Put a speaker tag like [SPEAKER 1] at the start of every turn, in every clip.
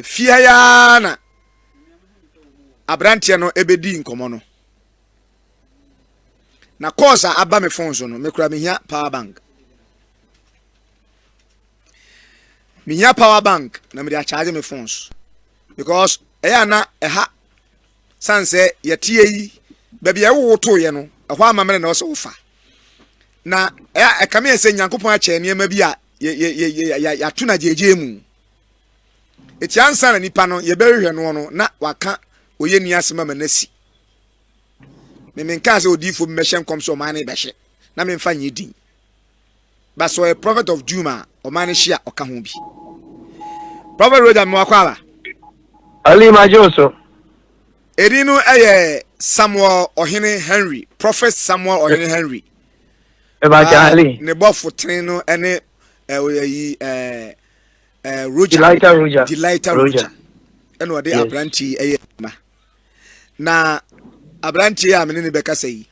[SPEAKER 1] Fie ha yi ara na aberanteɛ no bɛdii nkɔmmɔ no. Na calls a aba me phone so no, mekura mehia power bank. Mehia power bank na mede acharge me phone so because ɛyɛ a na ɛha sane sɛ yɛteɛ yi baabi a ɛwowo toeɛ no ɛhɔ amammerɛ na ɔsɛ wofa na ɛkame yɛ sɛ nyankopɔn akyɛ nneɛma bi a yɛato no agyegye mu Eti ansa na nipa no yɛbɛhwehwɛ no no na waka oyɛ ni asɛm ama n'asi. Memenkaa sɛ odiifo bi bɛhyɛ nkɔm sɛ ɔman no bɛhye na memfa nyɛ din. Ba sɛ ɔyɛ prophet of doom a ɔman no hye a ɔka ho bi. Prophet Roger mmoa kɔ aba. Ali
[SPEAKER 2] Majo so. Edin
[SPEAKER 1] no yɛ Samuel Ɔhene Henry, Prophet Samuel Ɔhene Henry. Ɛbɛkyɛ
[SPEAKER 2] Ali. Ne bɔfo
[SPEAKER 1] tene no ne ɛɛ ɔyɛ yi ɛɛ
[SPEAKER 2] ɛɛ roger delighter roger delighter roger
[SPEAKER 1] ɛna ɔde aberante yi ɛyɛ ma na aberante yi a mene ne bɛkasa yi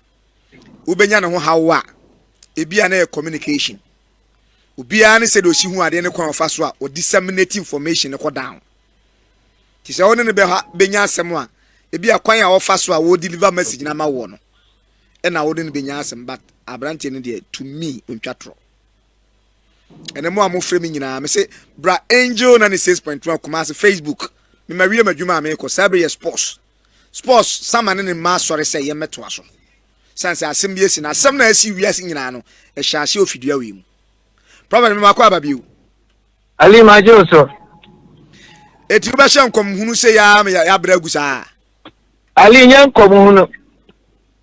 [SPEAKER 1] wobɛnya ne ho hawo a ebi a na yɛ communication obiara ne sɛ de osi ho adeɛ ne kwan ɔfa so a ɔde disseminate information ne kɔ down te sɛ ɔne ne bɛha bɛnya asɛm a ebi a kwan a ɔfa so a wɔ deliver message na ama wɔ no ɛna ɔde ne bɛnya asɛm but aberante no deɛ to me ntwa torɔ ɛnɛ mo a mofrɛ me nyinaa mese bra angel 96.1 kumase facebook mema wie m'adwuma a meekɔ saa bere yɛ sports sports sama ne ne mma asɔre sɛ yɛmmɛtoa so sane sɛ asɛm bi asi na asɛm na asi wiase nyinaa no ɛhyɛ ase ofidua wei mu prɔfɛt mema kɔ aba bio ali
[SPEAKER 2] magye wo so
[SPEAKER 1] ɛti wobɛhyɛ nkɔmhunu sɛ yɛa yɛabrɛ agu saa Ali nyɛ
[SPEAKER 2] nkɔm ho no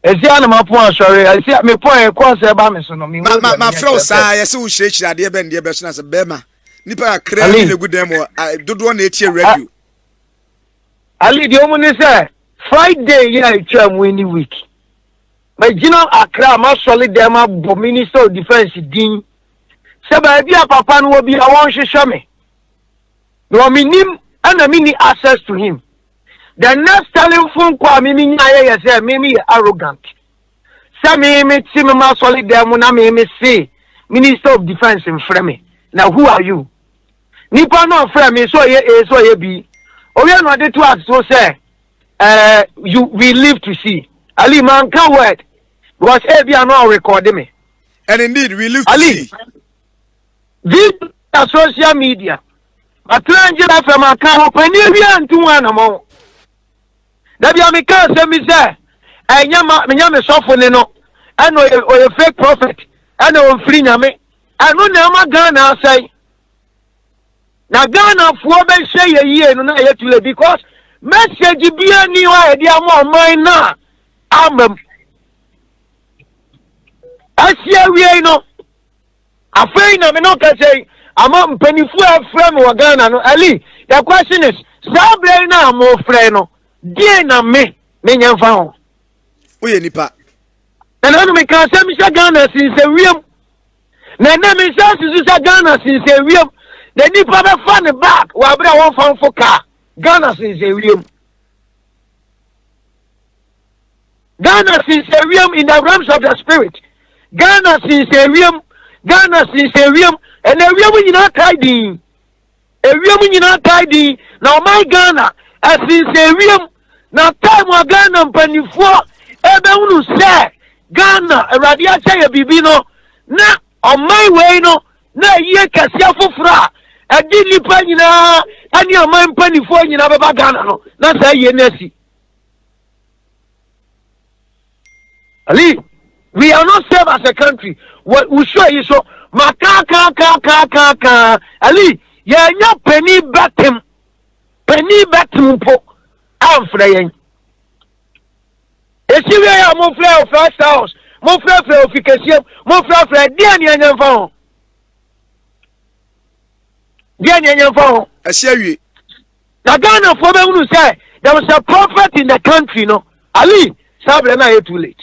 [SPEAKER 2] ɛsi a na mapɔn asɔre ɛsi a mepɔn ɛkɔɔ sɛ ɛba me so no ma ma ma frɛ wo saa
[SPEAKER 1] yɛsɛ wo hyerɛkyerɛ adeɛ bɛn deɛ bɛso no sɛ bɛrima nipa kakra bi na gu dan mu dodoɔ na ɛtie radio
[SPEAKER 2] ali deɛ ɔmu ne sɛ friday yɛ a ɛtwa mu any week magyina akra masɔle dɛn mabɔ minister of defense din sɛ baabi a papa no wɔ bi a wɔnhwehwɛ me na wɔ me nim ɛna me ni access to him the next telling phone call me me nya yɛ yɛ sɛ me me yɛ arrogant sɛ me me te me ma sɔli dɛm mu na me me se minister of defence mfrɛ me na who are you nipa na ɔfrɛ me so ɔyɛ a so ɔyɛ bi owie na ɔde to aso sɛ ɛɛ you we live to see ali man ka word because ebi ano ɔrekɔde me and indeed we
[SPEAKER 1] live to see.
[SPEAKER 2] via social media matena ngyina fam aka ho pani awia ntu ho anamɔn da bia meka asɛm bi sɛ ɛnyɛ ma menya me sɔfo ne no ɛna ɔyɛ ɔyɛ fake prophet ɛna ɔmfiri nyame ɛno na ɛma ghana asɛe na ghanafoɔ bɛhyɛ yɛ yie no na ɛyɛ tule because message bia ni hɔ a yɛde ama ɔman no a amam asie awiei no Afei na me ne wo kasa yi, ama mpanimfoɔ a afrɛ me wɔ Ghana no, Ali, the question is, saa berɛ yi no a mofrɛ no, deɛ na me, menyɛ mfa ho. Woyɛ nipa.
[SPEAKER 1] Na na no
[SPEAKER 2] meka sɛ mehyɛ Ghana sensɛ wiem. Na ɛnɛ me nsa susu sɛ Ghana sensɛ wiem. Na nipa bɛfa ne bag wɔ abere a wɔmfa mfo kaa. Ghana sensɛ wiem. Ghana sinsɛ wiem in the realms of the spirit. Ghana sinsɛ wiem. Ghana sinsɛ wiem. Ɛna ewiem nyinaa tae din. Ewiem nyinaa tae din. Na ɔman Ghana ɛsinsɛ wiem. Na tae mu a Ghana mpanimfoɔ ɛbɛhunu sɛ Ghana awurade akyɛ yɛ biribi no na ɔman wei no na ɛyie kɛseɛ foforɔ a ɛde nnipa nyinaa ɛne aman mpanimfoɔ nyinaa bɛba Ghana no na saa yie no asi. Ali, we are not safe as a country. Wɔ wusuo yi so, ma kaa kaa kaa kaa kaa kaa. Ali, yɛnya panin bɛtem, panin bɛtem mpo amfrɛ yɛn. Esi wie a mofrɛ wɔ first house, mofrɛfrɛ ofi kɛseɛ, mofrɛfrɛ deɛ ne ɛnyɛ mfa ho. Deɛ ne ɛnyɛ mfa ho. Ɛsi awie.
[SPEAKER 1] Na
[SPEAKER 2] Ghanafoɔ bɛhunu sɛ there was a prophet in the country no Ali saa berɛ no ayɛ too late.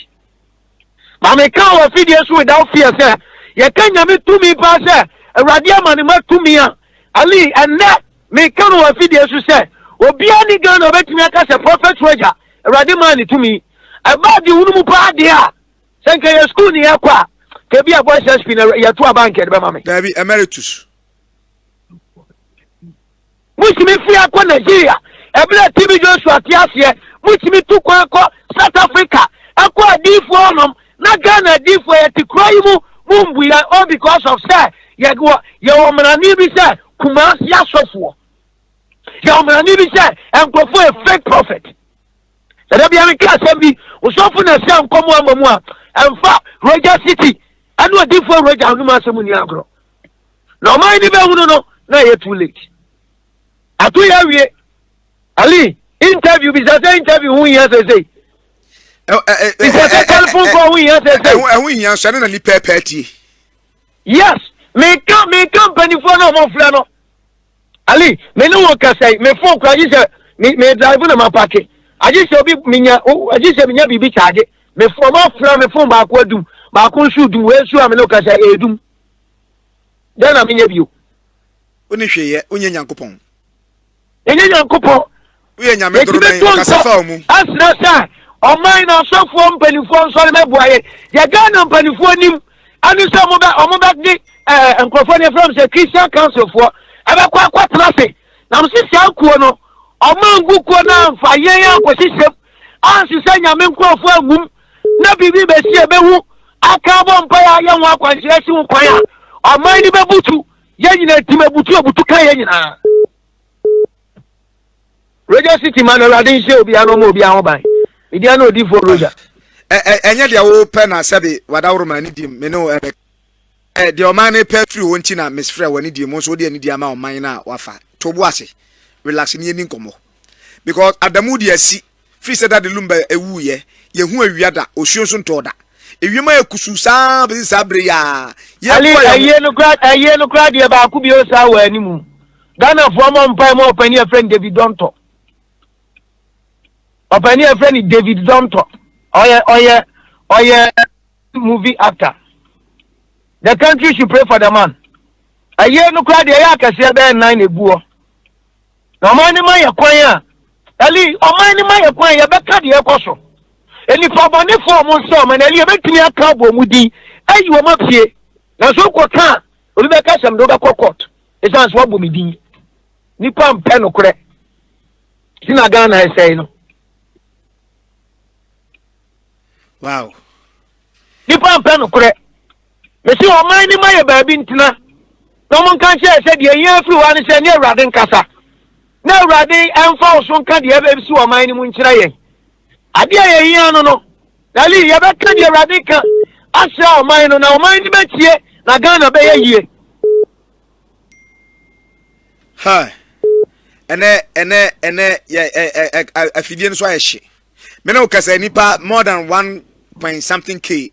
[SPEAKER 2] Ma meka wɔ afidie so without fear sɛ yɛka Nyame tumi paa sɛ Awurade ama ne ma tumi a Ali ɛnnɛ meka no wɔ afidie so sɛ obiara ne Ghana ɔbɛtumi aka sɛ prophet Roger Awurade maa ne tumi ɛbaa de hunu mu paa deɛ a sɛ nka yɛ school ne yɛkɔ a kebi a boys SP na yɛto aba nka ɛde bɛma me. Daabi emeritus. Motumi firi ha kɔ Nigeria, ɛberɛ a TB Joshua te aseɛ, motumi tu kwan kɔ South Africa, ɛkɔ adiyifoɔ hɔ nom, na Ghana adiyifoɔ yɛte kuro yi mu, mo mbu yɛn o because of sɛ yɛwɔ yɛwɔ mmarane bi sɛ Kumasi asɔfoɔ, yɛwɔ mmarane bi sɛ nkurɔfoɔ yɛ fake prophet. Ɛdɛ bia meka asɛm bi, osɔfo na ɛsɛ nkɔmɔ ama mu a, ɛmfa Roger City ɛne odifoɔ Roger anom asɛm ni agorɔ. na ɔman ni bɛhunu no na ɛyɛ too late ato yɛ awie ali interview bisa sɛ interview ho hia sɛsei bisa sɛ telephone call ho hia sɛsei ɛho hia nso ɛne na ni
[SPEAKER 1] pɛɛpɛɛ tie
[SPEAKER 2] yes meka meka mpanimfoɔ no a wɔfrɛ no ali me ne wɔn kasa yi me fon kora gye sɛ me me drive na ma pake agye sɛ obi menya agye sɛ menya biribi kyaagye me fon wɔn afra me fon baako adum baako nso dum wei nso a me ne wɔn kasa yɛ edum. Dɛn na menyɛ bio? Wonni hwee
[SPEAKER 1] yɛ, wonyɛ Nyankopɔn. Menyɛ
[SPEAKER 2] Nyankopɔn. Woyɛ Nyame
[SPEAKER 1] dorobɛn, ɔkasa fa wo mu. Asrɛ sɛ
[SPEAKER 2] ɔman na asɔfoɔ mpanimfoɔ nsɔre mɛboa yɛn. Yɛ Ghana mpanimfoɔ nim ɛne sɛ ɔmo bɛ ɔmo bɛ de ɛɛ nkorɔfoɔ ne efra mo sɛ Christian Council foɔ ɛbɛkɔ akɔ tena ase. Nam si saa kuo no ɔmo angu kuo no anfa yɛn ankɔsi sɛm ansesɛ Nyame nkorɔfoɔ angum. na biribi bɛsi a ɛbɛhu aka abɔ mpaeɛ a yɛn ho akwanhyerɛ si ho kwan a ɔman no bɛbutu yɛn nyinaa ntim abutu abutu ka yɛn nyinaa radio city ma no awurade nhyɛ obiara na ɔma obiara ho ban media na odifoɔ roger ɛnyɛ deɛ
[SPEAKER 1] wopɛ na sɛbe wadaworo ma ne di me ne ɛbɛ deɛ ɔman no pɛ firi hɔ nti na mesfrɛ wɔ ne di mu nso wode anidi ama ɔman no a wafa to bo ase relax ne yɛni nkɔmmɔ because adamu de asi Firi sɛ da de Lumba wuiɛ, yɛnhuu awia da, osuo nso ntɔɔ da. Ewiem ayɛ kusuu sa ara bɛsi saa berɛ yi ara. Ali, Ayie no koraa,
[SPEAKER 2] ayie no koraa deɛ baako bio saa wɔ anim. Ghanafoɔ mmɔ mpae ma ɔpanin a yɛfrɛ no David Dontɔ. Ɔpanin a yɛfrɛ no David Dontɔ. Ɔyɛ, ɔyɛ, ɔyɛ movie actor. The country should pray for the man. Ayie no koraa deɛ ɛyɛ akɛseɛ bɛyɛ nnan na ɛgu hɔ. Na ɔman no ma yɛ kwan a, Eli, ɔman no ma yɛ kwan a yɛbɛka deɛ ɛkɔ so. Nnipa bɔnefoɔ a wɔn nsɛ ɔman, Eli, yɛbɛtumi aka abɔ wɔn din, ayi wɔn afie. Nanso wokɔka a, obi bɛka asɛm de wobɛkɔ court. Ɛsiane sɛ woabɔ me din. Nnipa mpɛ nokorɛ. Nti na Ghana ɛsɛe no.
[SPEAKER 1] Wow.
[SPEAKER 2] Nnipa mpɛ nokorɛ. Mese ɔman no ma yɛ baabi ntena, na ɔmo nka nkyerɛ yɛ sɛ deɛ ɛhia firi hɔ ara ne sɛ ɛne Awurade nkasa, na Awurade mfa wo so nka deɛ ɛbɛsi ɔman no mu nkyerɛ yɛn. Adeɛ a yɛhia no no, Dali, yɛbɛka deɛ Awurade ka akyerɛ ɔman no, na ɔman no bɛtie, na Ghana bɛyɛ yie.
[SPEAKER 1] Ha, ɛnɛ, ɛnɛ, ɛnɛ, yɛ, ɛ, ɛ, ɛ, afidie no so ayɛ hye. Me ne wo kasa nipa more than one point something k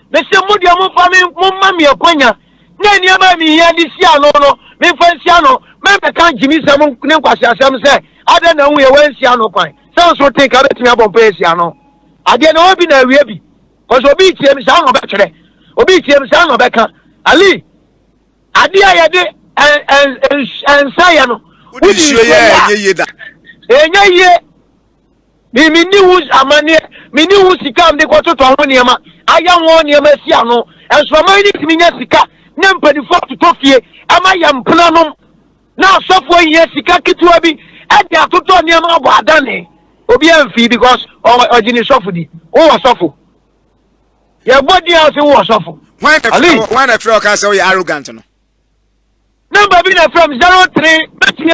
[SPEAKER 2] Mese mo deɛ momfa me, momma me akwanya na nneɛma a mehia de si ano no, memfa nsi ano. Mɛmmɛka gyimesɛm ne nkwaseasɛm sɛ, Adɛn na woyɛ? Woansi ano kwan. Sɛ nso wote nka bɛtumi abɔ mpaeɛ asi ano. Adeɛ na ɛwɔ bi na awie bi. Kɔsɛ obi retie me saa na ɔbɛtwerɛ. Obi retie me saa na ɔbɛka. Ali, adeɛ a yɛde nsa yɛ no, wode nsuo
[SPEAKER 1] yɛ a, ɛnyɛ yie.
[SPEAKER 2] Me, menni ho amanneɛ, menni ho sika a mede kɔtotɔ ho nneɛma, ayɛ ho nneɛma asi ano. Nsraman no tumi nya sika na mpanimfoɔ atotɔ fie ma yɛn mpenanom, na asɔfoɔ hia sika ketewa bi de atotɔ nneɛma abɔ adane. Obiara mfii because ɔgye ne sɔfo di. Wowɔ sɔfo. Yɛbɔ din a sɛ wowɔ sɔfo. Hwan
[SPEAKER 1] na frɛ ɔka sɛ woyɛ arrogant no?
[SPEAKER 2] Namba bi na frɛ m 03 bɛtumi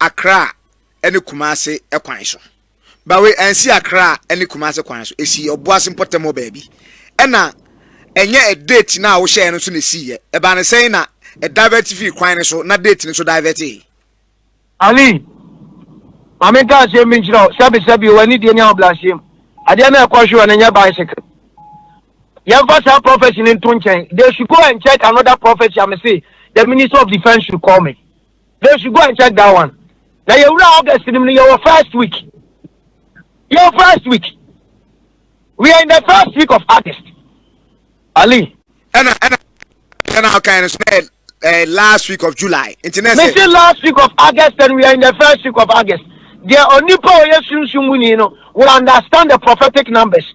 [SPEAKER 1] Accra ne Kumasi kwan so. Bawei ansi Accra ne Kumasi kwan so. Esi Obuasi mpɔtam hɔ baabi. Ɛna ɛnyɛ date no a wohyɛɛ no nso na esiiɛ. Ɛbaa no sɛn na ɛdivert fii kwan no so na date no nso divertee? Ali,
[SPEAKER 2] ma menka asɛm bi nkyerɛ wo, sɛbesɛbe o, anidie ne ahobrɛaseɛ mu, adeɛ no a ɛkɔ hwe wɔ no nyɛ bicycle. Yɛmfa saa prophecy no nto nkyɛn. They should go and check another prophecy a mese the minister of defence should call me. they should go and check that one na yɛwura august nim no yɛwɔ first week yɛwɔ first week we are in the first week of august ali. ɛna ɛna
[SPEAKER 1] ɛna ɔkan no so na yɛ uh, last week of July. Nti na sɛ. Mesi last
[SPEAKER 2] week of August and we are in the first week of August. Deɛ onipa a ɔyɛ sunsun mu ni no will understand the prophetic numbers.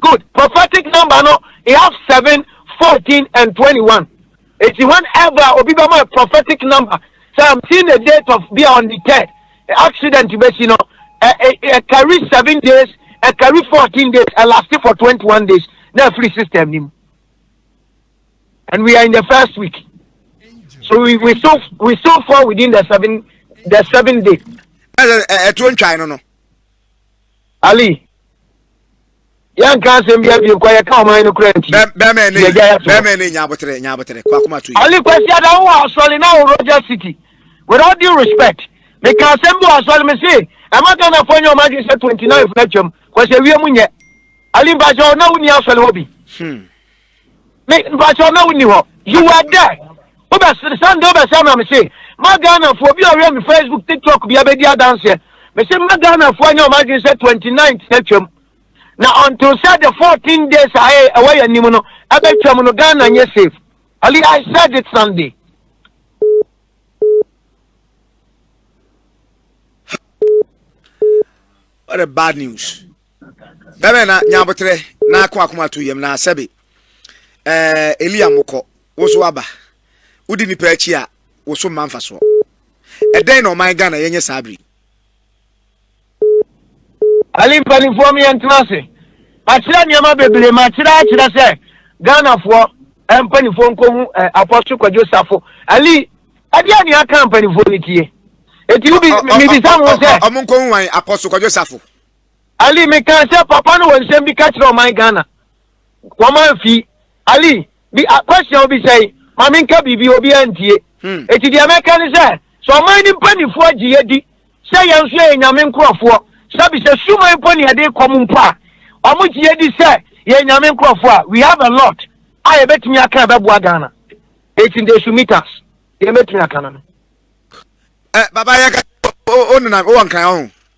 [SPEAKER 2] Good prophetic number no e have seven, fourteen and twenty one. Eti whenever obi bɛ mo prophetic number so I'm seeing the date of be on the third accident bɛ si no ɛ ɛ ɛ carry seven days ɛ carry fourteen days ɛ last for twenty one days na free system ni mu and we are in the first week so we we still we still fall within the seven the seven days. Ẹ ẹ ẹ tó ń twa
[SPEAKER 1] ẹ nínú.
[SPEAKER 2] ali yɛnka asɛm bia bio kɔ yɛka ɔman no kora nti bɛmɛ ne nya aboterɛ
[SPEAKER 1] nya aboterɛ kɔ akoma to yi ali kwasi
[SPEAKER 2] ada wo asɔre na wo roger city with all due respect meka asɛm bi wɔ asɔre me se ɛma ghanafoɔ nyɛ ɔma adwene sɛ 29 no atwam kwasi awie mu nyɛ ali mpakyɛ na wonni asɔre hɔ bi hmm. Me mpatsɔ na wo ni hɔ. You were there. Wo bɛ sere sɛ nde wo bɛ sɛ ma me se ma Ghana foɔ obi a ɔhwɛ me Facebook TikTok bia bɛ di adanseɛ me se ma Ghana foɔ nyɛ wɔn adwene sɛ 29th na twam na until sɛ the 14 days a ɛyɛ ɛwɔ yɛ anim no ɛbɛ twam no Ghana nyɛ safe. Ali I said it Sunday.
[SPEAKER 1] What a bad news. Bɛbɛ na nyabotrɛ na ako akoma to yam na sɛbe ɛɛ Elia mokɔ wo so aba wodi nipa akyi a wo so mma mfasoɔ ɛdɛn na ɔman Ghana yɛnyɛ saa bere
[SPEAKER 2] Ali mpanimfoɔ mi yɛntena ase makyerɛ nneɛma bebree makyerɛ akyerɛ sɛ Ghanafoɔ mpanimfoɔ nkɔhu apɔso kwadwo safo Ali ɛdeɛ ne aka mpanimfoɔ no tie ɛti wobisa mo sɛ ɔmo nkɔhu wan apɔso
[SPEAKER 1] kwadwo safo Ali me
[SPEAKER 2] kan sɛ papa no wɔ nsɛm bi ka kyerɛ ɔman Ghana wɔn amfi Ali bi akwasua obi sɛe ma me nka biribi obi antie hmm. eti deɛ mɛka ne sɛ sɛ ɔman ne mpanimfoɔ agye yɛ di sɛ yɛn nso yɛ nyame nkorɔfoɔ sɛbi sɛ suman mpo ne yɛde kɔm mpo a wɔn gye yɛ di sɛ yɛ nyame nkorɔfoɔ a we have a lot a yɛbɛtumi aka ɛbɛboa Ghana eti nde sumitas deɛ mɛtumi aka no no. ɛ
[SPEAKER 1] eh, baba yɛ ka o o nana o wɔ nkran o.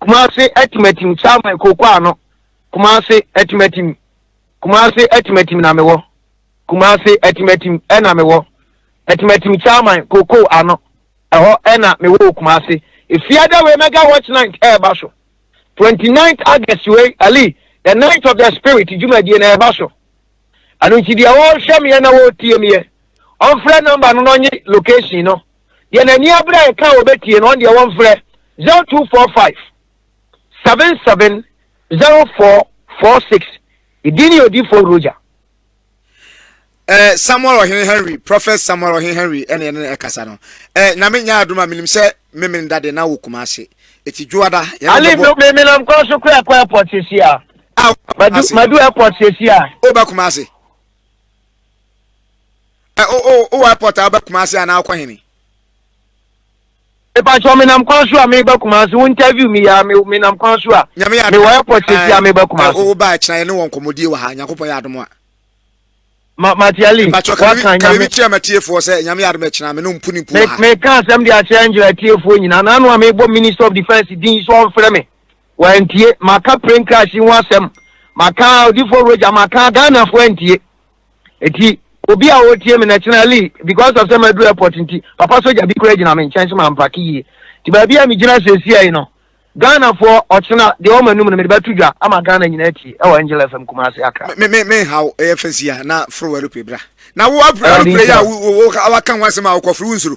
[SPEAKER 2] Kumase Atimatim Samuel Kooko Ano Kumase Atimatim Kumase Atimatim na mewɔ Kumase Atimatim ɛna mewɔ Atimatim Samuel Kooko Ano ɛhɔ ɛna mewɔ wɔ Kumase Efiada wei mega watch night ɛɛba so 29th August wei Ali the night of the spirit dwumadie na ɛɛba so ɛno nti deɛ wɔrehwɛ meɛ na wɔretie meɛ ɔmfrɛ nɔmba no na ɔnye location no deɛ n'ani abere a yɛka a wɔbɛtie no ɔno deɛ wɔmfrɛ 0245 77 0446 me din ne odifoɔ roger
[SPEAKER 1] eh, samuel ɔhene henry prophet samuel ɔhene henry ɛne ɛne ɛkasa no eh, na menya adom a menim sɛ memene dade na wɔ kuma ase ɛti dwoada ale menam kɔ
[SPEAKER 2] so kora kɔ airport sesi a madu airport sesi a wobɛkoma ase
[SPEAKER 1] Ɛ o o o airport a wobɛ Kumasi anaa wokɔ hene?
[SPEAKER 2] Mepakyɛ menam kwan so a meba Kumasi wo interview me ya me menam kwan so a Nyame yɛ adom a. Mewɔ airport sɛsi a meba Kumasi. Ɛ o o ba akyina yɛ ne wɔ
[SPEAKER 1] nkɔmɔdie wɔ ha Nyankopɔn yɛ adom a. Ma
[SPEAKER 2] Matiali wakan Nyame. Mepakyɛ
[SPEAKER 1] ka biribi kyerɛ matiefoɔ sɛ Nyame yɛ adom akyina me ne mpo ne mpo wɔ ha. Me meka asɛm de akyerɛ
[SPEAKER 2] Angela atiefoɔ nyinaa na ano a mebɔ minister of defense din so ɔnfrɛ me. wɔantie. Maka Plane Crash yi ho asɛm, maka Odifoɔ Roger, maka Ghanafoɔ antie. Eti obi a ɔretie me na kyena Lee because of sɛ maduru airport nti, papa sogya bi koraa gyina me nkyɛn sɛ mampake yie. Nti baabi a megyina seesei yi no, Ghanafoɔ ɔkyena deɛ ɔwɔ m'anum no mede bɛto dwa ama Ghana nyinaa atie ɛwɔ Angel FM Kumasi Accra. Me me me nhaw ɛyɛ
[SPEAKER 1] fɛ si a na foro wɛrope bra. Na wo apre wɛrope yɛ a waka ho asɛm a wokɔforo wo nsuro.